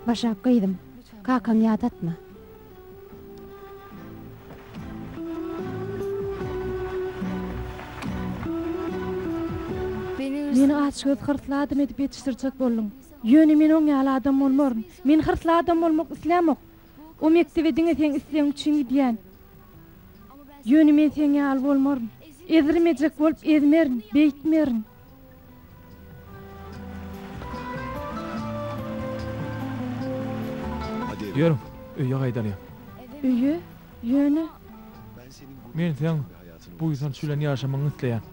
A: Başak gyzym, kakaňy ýadatma. Meni aç göz, hyrsly adam edip ýetişdirjek bolduň. Ýöne men oň ýaly adam bolmaryn. Men hyrsly adam bolmak islämok. O mekdebe diňe seň islegiň üçin gidýän. Ýöne men seň ýaly bolmaryn. Ezdirmejek bolup ezmerin, beýtmerin. Ýörüň, öýe gaýdalyň. Öýe? Ýöne? Men seň buýsanç bilen ýaşamagyňy isleýän.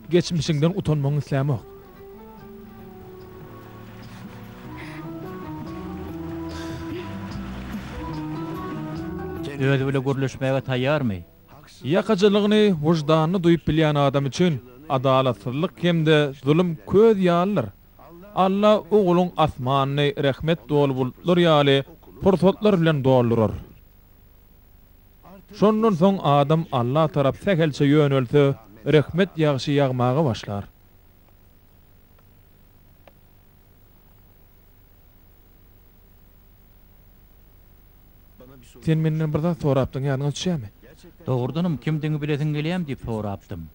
A: Geçmişiňden utanmagyňy islämok. Özi bile gürleşmäge taýýarmy? Ýakajylygyny wyždanly duýup bilýän adam üçin adalatsyzlyk hem-de zulum köz ýalydyr. Alla Ogluň asmanyny rehmet doly bulutlar ýaly pursatlar bilen doldurar. Şondan soň adam Alla tarap sähelçe ýönelse, rehmet ýagşy ýagmaga başlar. Sen menden bir zat sorapdyň, ýadyňa düşýärmi? Dogrudanam, kimdigiňi bilesiň gelýärmi? diýip sorapdym.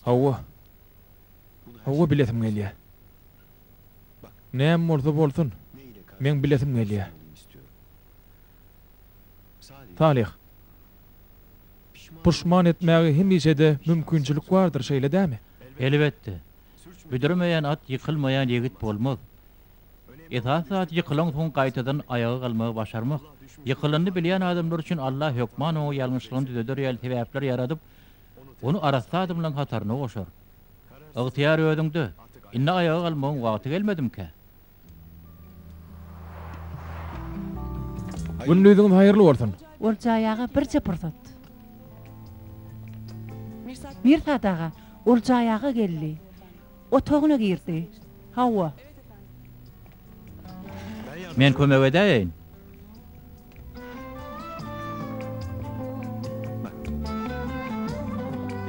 A: Hawa. Hawa, bilesim gelýär. Näme bolsa bolsun, meň bilesim gelýär. Salyh. Puşman etmäge hemişe-de mümkinçilik bardyr, şeýle dämi? Elbetde. Büdremeýän at ýykylmaýan ýigit bolmaz. Esasy zat ýykylansoň gaýtadan aýaga galmagy başarmak. Ýykylanyny bilýän adamlar üçin Allah hökman oňa ýalňyşlygyny düzeder ýaly sebäpler ýaradyp, ony arassa adamlaryň hataryna goşar. Ygtyýar özüňde. Indi aýaga galmagyň wagty gelmedimikä? Gündiziňiz haýyrly bolsun. Oljaý aga birje pursat. Mirsat aga, Oljaý aga geldi. Otagyna girdi. Hawa. Men kömek edäýeýin.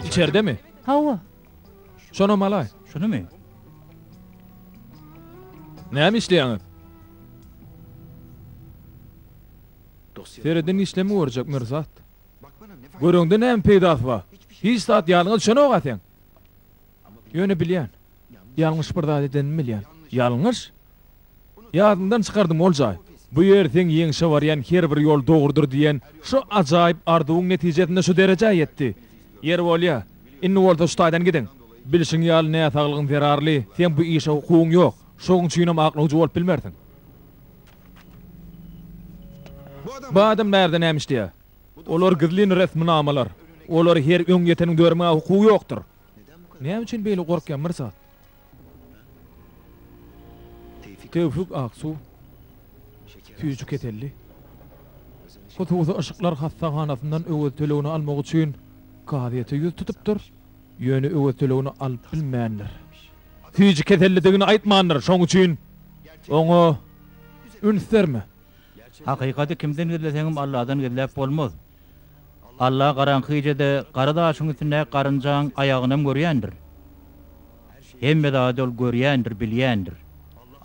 A: Içerdemi? Hawa. Şonam alaý. Şunumy? Näme işleýäňiz? Serediň işlemi görjek Mirzat. Göreňde näme peýdasy bar? Hiç zat ýadyňa düşenok-a seň. Ýöne bilýän. Ýalňyş bir zat edenimi bilýän. Ýalňyş? Ýadyndan çykardym ol jaý. Bu ýer seň ýeňşe barýan her bir ýol dogrudyr diýen şo ajaýyp arzuwyň netijesinde şu derejä ýetdi. Ýeri bolýa. Indi bolsa şu taýdan gidiň. Bilşiň ýaly näsaglygyň zerarly, seň bu işe hukugyň ýok. Şoň üçinem aklawjy bolup bilmersiň. Bu adam bärde näme işleýär? Olar gizlin resminamalar. Olary her öň ýeteniň dörmäge hukugy ýokdur. Näme üçin beýle gorkýaň, Mirza? Tewfik Aksu süýji keselli. Hususy yşyklar hassahanasyndan Öwez tölegini almak üçin kazyýete ýüz tutupdyr, ýöne Öwez tölegini alyp bilmändir. Süýji kesellidigini aýtmandyr, şoň üçin oňa üns berme. Hakykaty kimden gizleseňem Alladan gizläp bolmaz. Alla garaňky gijede gara daşyň üstündäki garynjaň aýagynam görýändir. Hemme zady ol görýändir, bilýändir.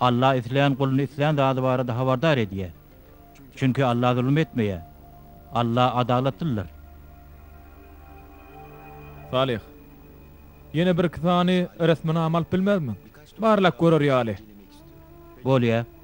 A: Alla islän guluny islän zady barada habardar edýär. Çünki Alla zulum etmeýär. Alla adalatlydyr. Salyh. Ýene birki sany resminama alyp bilmezmiň? Barlap görer ýaly. Bolýa.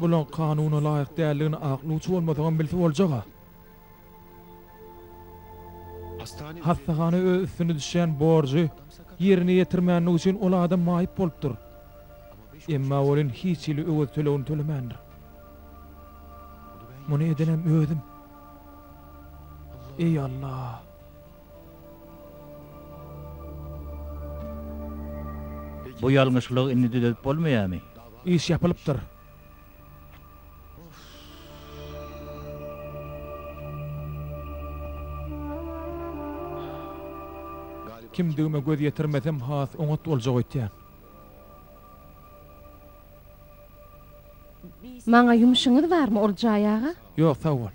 A: Bulaň kanuna laýyk däldigini ak lujy bolmasaňam bilse boljag-a. Hassahana öz üstüne düşýän borjy ýerine ýetirmänligi üçin ol adam maýyp bolupdyr. Emma welin hiç hili öwez tölegini tölemändir. Muny edenem özüm. Eý, Alla! Bu ýalňyşlygy indi düzedip bolmaýamy? Iş ýapylypdyr. Kimdigime göz ýetirmesem has oňat boljak öýtýän. Maňa ýumşuňyz barmy Oljaý aga? Ýok, sag bol.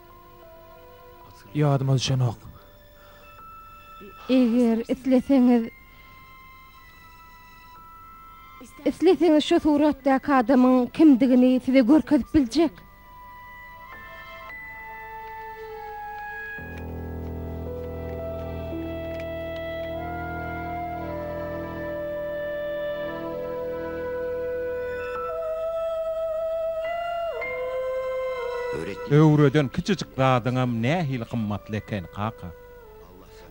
A: Ýadyma düşenok. Eger isleseňiz, isleseňiz şu suratdaky adamyň kimdigini size görkezip biljek. Öwreden kiçijik zadyňam nähili gymmatly eken, kaka.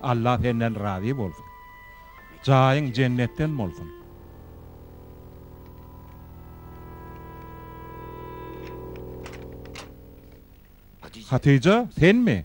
A: Alla senden razy bolsun. Jaýyň jennetden bolsun. Hatyja, senmi?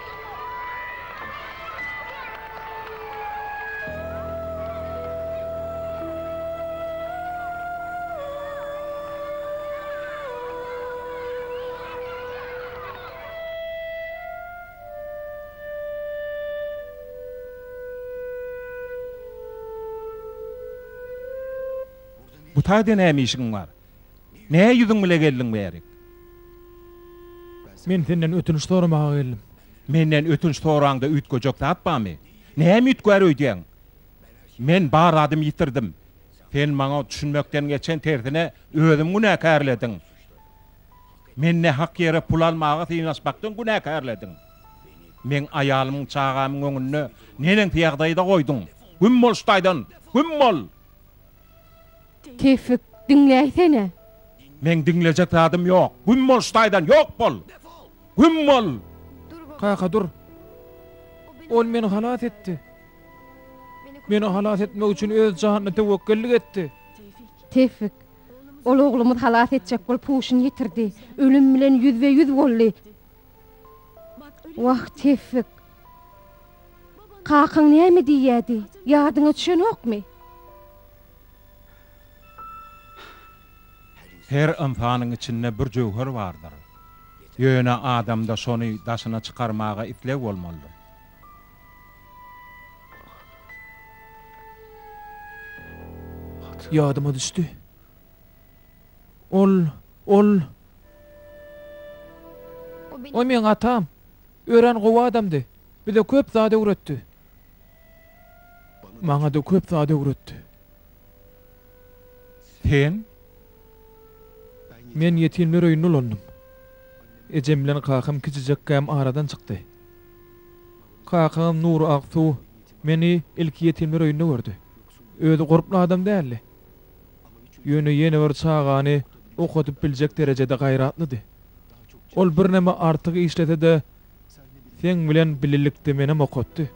A: Bu taýda näme işiň bar? Nä ýüzüň bile geldiň bärik? Men senden ötünç soramaga geldim. Menden ötünç soraňda üýtgejek zat barmy? Näme üýtgär öýdýäň? Men bar zadymy ýitirdim. Sen maňa düşünmekden geçen, tersine özümi günäkärlediň. Mende hak ýere pul almaga synanyşmakdan günäkärlediň. Meň aýalymyň, çagamyň öňünde neneňsi ýagdaýda goýduň? Güm bol şu taýdan! Güm bol! Tewfik, diňläýsene! Meň diňlejek zadym ýok. Güm bol ştaýdan, ýok bol! Güm bol! Kaka, dur! Ol meni halas etdi. Meni halas etmek üçin öz janyna töwekgellik etdi. Tewfik, ol oglumyz halas etjek bolup huşuny ýitirdi. Ölüm bilen ýüzbe-ýüz boldy. Wah, Tewfik! Kakaň näme diýýärdi, ýadyňa düşenokmy? Her ynsanyň içinde bir jöwher bardyr. Ýöne adamda şony daşyna çykarmaga isleg bolmalydyr. Ýadyma düşdi. Ol, ol. O meň atam. Örän gowy adamdy. Bize köp zat öwretdi. Maňa-da köp zat öwretdi. Sen? Men ýetimler öýünde ulandym. Ejem bilen kakam kiçijekkäm aradan çykdy. Kakam Nury Aksuw meni ilki ýetimler öýünde gördi. Özi gorkly adam däldi. Ýöne ýene bir çagany okadyp biljek derejede gaýratlydy. Ol birneme artyk işlese-de, seň bilen bilelikde menem okatdy.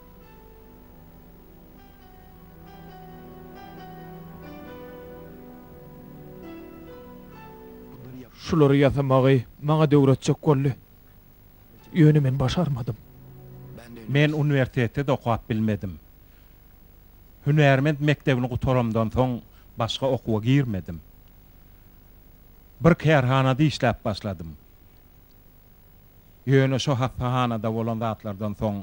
A: Şulary ýasamagy maňa döwretjek boldy. Ýöne men başarmadym. Men uniwersitetde-de okap bilmedim. Hünärment mekdebini gutaramdan soň başga okuwa girmedim. Bir kärhanada işläp başladym. Ýöne şo hassahanada bolan zatlardan soň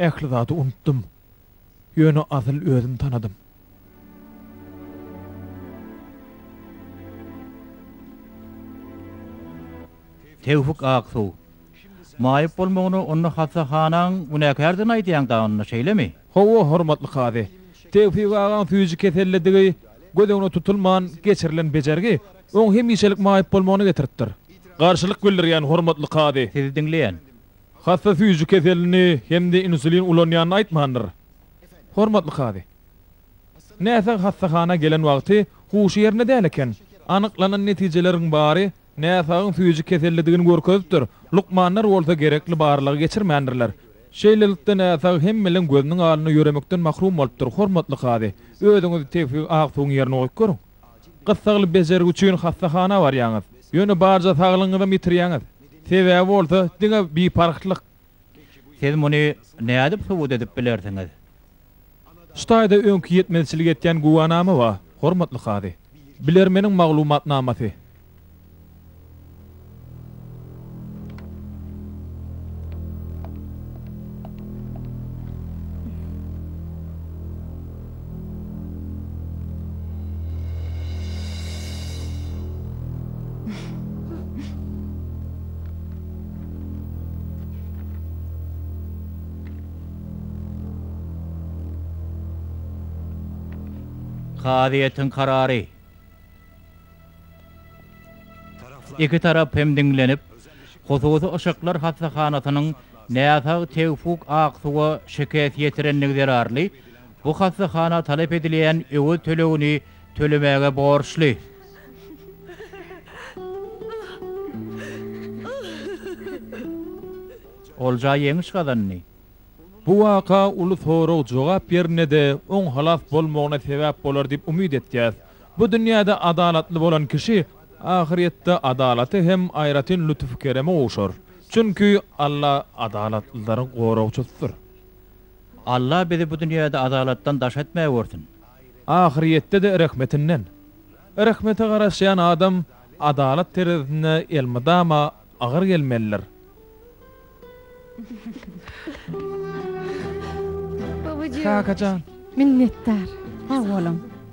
A: Ähli zady unutdym. Ýöne asyl özüm tanadym. Tewfik Aksuw. Maýyp bolmagyny onda hassahanaň günäkärdigini aýdýaň-da onda, şeýlemi? Hawa, hormatly kazy. Tewfik agaň süýji kesellidigi göz öňüne tutulman geçirilen bejergi oň hemişelik maýyp bolmagyna getiripdir. Garşylyk bildirýän, hormatly kazy. Sizi diňleýän. Hassa süýji keselini hem-de insulin ulanýanyny aýtmandyr, hormatly kazy. Näsag hassahana gelen wagty huşy ýerinde däl eken. Anyklanan netijeleriň bary Näsagyň süýji kesellidigini görkezipdir, lukmanlar bolsa gerekli barlagy geçirmändirler. Şeýlelikde, näsag hemmeleriň gözüniň alynda ýöremekden mahrum bolupdyr, hormatly kazy. Özüňizi Tewfik Aksuwyň ýerine goýup görüň. Gyssagly bejergi üçin hassahana barýaňyz. Ýöne barja saglygyňyzam ýitirýäňiz. Sebäbi bolsa, diňe biparhlyk. Siz muny nädip subut edip bilersiňiz? Şu taýda öňki ýetmezçilik etýän güwänama bar, hormatly kazy. Bilermeniň maglumatnamasy. Kazyýetiň karary. Iki tarap hem diňlenip, hususy yşyklar hassahanasynyň näsag Tewfuk Aksuwa şikes ýetirendigi zerarly Bu hassahana talap edilýän öwez tölegini tölemäge borçly. Olja ýeňiş gazandy. Bu waka uly sorag-jogap ýerine-de oň halas bolmagyna sebäp bolar diýip umyt etýäs. Bu dünýäde adalatly bolan kişi ahyrýetde adalata hem aýratyn lütüf-kereme gowşar. Çünki Alla adalatlylary goragçysydyr. Allah bizi bu dünýäde adalatdan daş etmägörsün. Ahyrýetde-de rehmetinden. Rehmete garaşýan adam adalat terezisinde elmydama agyr gelmelidir. Kakajan. Minnetdar. Sag boluň.